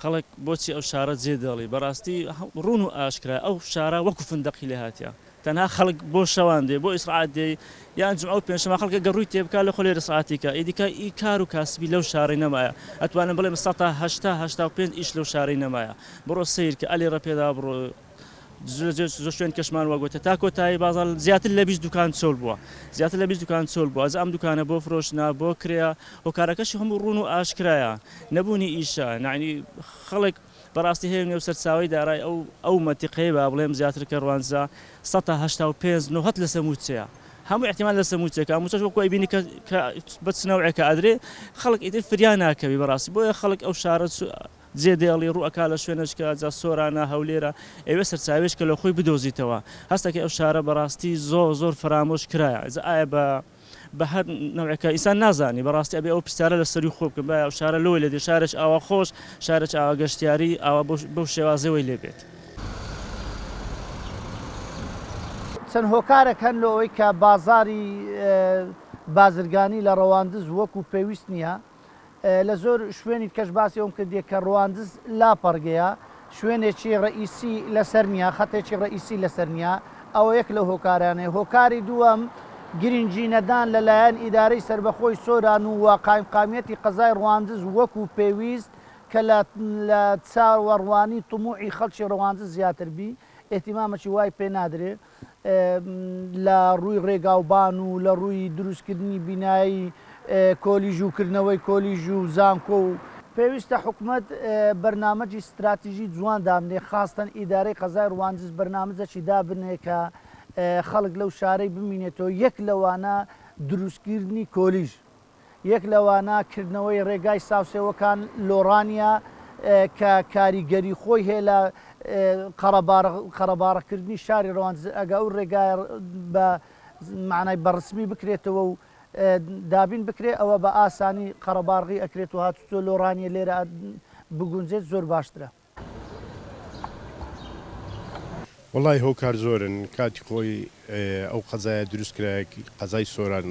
خەڵک بۆچی ئەو شارە جێ دێڵی بەڕاستی ڕوون و ئاشکرا ئەو شارە وەکو فندەقی لێ هاتیە تەنها خەڵک بۆ شەوان دێ بۆ ئیسڕات دێ یان جمعە و پێنجشەمە خەڵکە گە ڕووی تێ بکا لە خۆ لێ ئیسڕاتی کا ئی دیکە ئی کار و کاسبی لەو شارەی نەمایە ئەتوانم بڵێم سەتا هەشتا هەشتا و پێنج ئیش لەو شارەی نەمایە بڕۆ سەیر کە ئەلێ ڕە پێدا بڕۆ زۆر شوێن کەشمان وە گۆتە تا کۆتایی بازار زیاتر لە بیست دوکان چۆل بووە زیاتر لە بیست دوکان چۆل بووە ئەم دوکانە بۆ فرۆشتنە بۆ کرێە هۆکارەکەشی هەموو ڕوون و ئاشکرایە نەبوونی ئیشە نانی خەڵک بەڕاستی هەیە نێو سەرچاوی دارای ئەو ئەو مەنتیقەیە با بڵێم زیاتر کەڕوانزا سەد تا هەشتا و پێنج نۆهەت لە سەمووچەیە هەموو احتیمال لە سەمووچەکە هەمووچەش وەکو ئەیبینی کە کە بە چ نەوعێکە ئەدرێ خەڵک ئیتر فریا ناکەوی بەڕاستی بۆیە خەڵک ئەو شارە جێ دێڵی ڕوو ئەکا لە شوێنەچکە، جا سۆرانە، هەولێرە، ئەیەوێ سەرچاوەیەچکە لە خۆی بدۆزیتەوە، هەست ئەکەی ئەو شارە بە ڕاستی زۆر زۆر فەرامۆش کرایە، جا ئایا بە بە هەر نەوعێکە ئینسان نازانی بە ڕاستی ئەبێ ئەو پرسیارە لە سەرووی خۆ بکەم ئایا ئەو شارە لۆ لێ دێ شارێچ ئاوا خۆش، شارێچ ئاوا گەشتیاری، ئاوا بەو بەو شێوازەوەی لێ بێت. چەند هۆکارێک هەن لۆ ئەوەی کە بازاری بازرگانی لە ڕەواندز وەکوو پێویست نییە. لە زۆر شوێنی دکەش باسی ئەوەم کردیە کە ڕواندز لا پەڕگەیە شوێنێکی ڕەئیسی لە سەر نیە خەتێکی ڕەئیسی لە سەر نیە ئەوە یەک لەو هۆکارانەیە هۆکاری دووەم گرینگی نەدان لە لایەن ئیدارەی سەربەخۆی سۆران و وە قایمقامیەتی قەزای ڕواندز وەکو پێویست کە لە لە چاوەڕوانی طموعی خەڵکی ڕواندز زیاتر بی ئیهتیمامەکی وای پێ نادرێ. لە ڕووی ڕێگاوبان و لە ڕووی دروستکردنی بینایی کۆلیژ و کردنەوەی کۆلیژ و زانکۆ و. پێویستە حکومەت بەرنامەجی ستراتیژی جوان دابنێ خاستەن ئیدارەی قەزای ڕواندز بەرنامجەکی دابنێ کە خەڵک لەو شارەی بمینێتەوە یەک لەوانە دروستکیردنی کۆلیژ یەک لەوانە کردنەوەی ڕێگای ساوسێوەکان لۆڕانیە کە کاریگەری خۆی هەیە لە قەڕەباڕەکردنی شاری ڕەواندز ئەگە ئەو ڕێگایە بە مەعنای بە ڕسمی بکرێتەوە و دابین بکرێ ئەوە بە ئاسانی قەڕەباڕغی ئەکرێت و هاتوچۆ لۆڕانیە لێرە بگونجێت زۆر باشترە. وەڵای هۆکار زۆرن کاتی خۆی ئەو قەزایە دروست کرا قەزای سۆران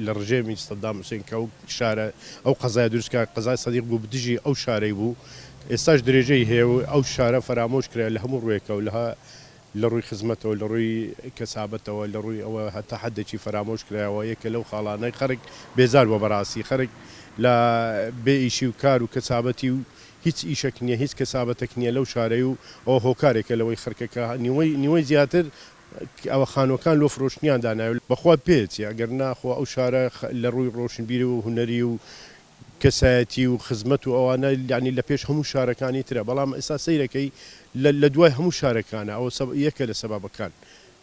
لە ڕژێمی سەدام حوسێن کە ئەو شارە ئەو قەزای دروست کرا قەزای سەدیق بوو بدژی ئەو شارەی بوو ئێستاش درێژەی هەیە و ئەو شارە فەرامۆش کرا لە هەموو ڕوێکەوە لە لە ڕووی خزمەتەوە، لە ڕووی کەسابەتەوە، لە ڕووی ئەوە هەتا حەدێکی فەرامۆش کرایەوە، یەکێ لەو خاڵانەی خەرک بێزار بووە بەڕاستی، خەرک لە بێ ئیشی و کار و کەسابەتی و هیچ ئیشەک نییە، هیچ کەسابەتەک نییە لەو شارەی و ئەوە هۆکارێکە لەوەی خەرکە کە نیوەی نیوەی زیاتر ئەوە خانووەکان لۆ فرۆشتنیان داناوێ، بەخوا پێیەچێ، ئەگەر نا خۆ ئەو شارە لە ڕووی ڕۆشنبیری و هونەری و کەسایەتی و خزمەت و ئەوانە یانی لە پێش هەموو شارەکانی ترە بەڵام ئێستا سەیرەکەی لە لە دوای هەموو شارەکانە ئەوە سە یەکە لە سەبەبەکان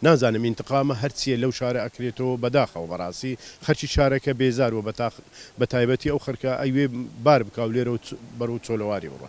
نازانم ئینتقامە هەر چیە لەو شارە ئەکرێتەوە بەداخەوە بەڕاستی خەرکی شارەکە بێزار وە بەتاخ بەتایبەتی ئەو خەرکە ئەیوێ بار بکاو لێرەو بەرەو چۆلەواری بڕۆ.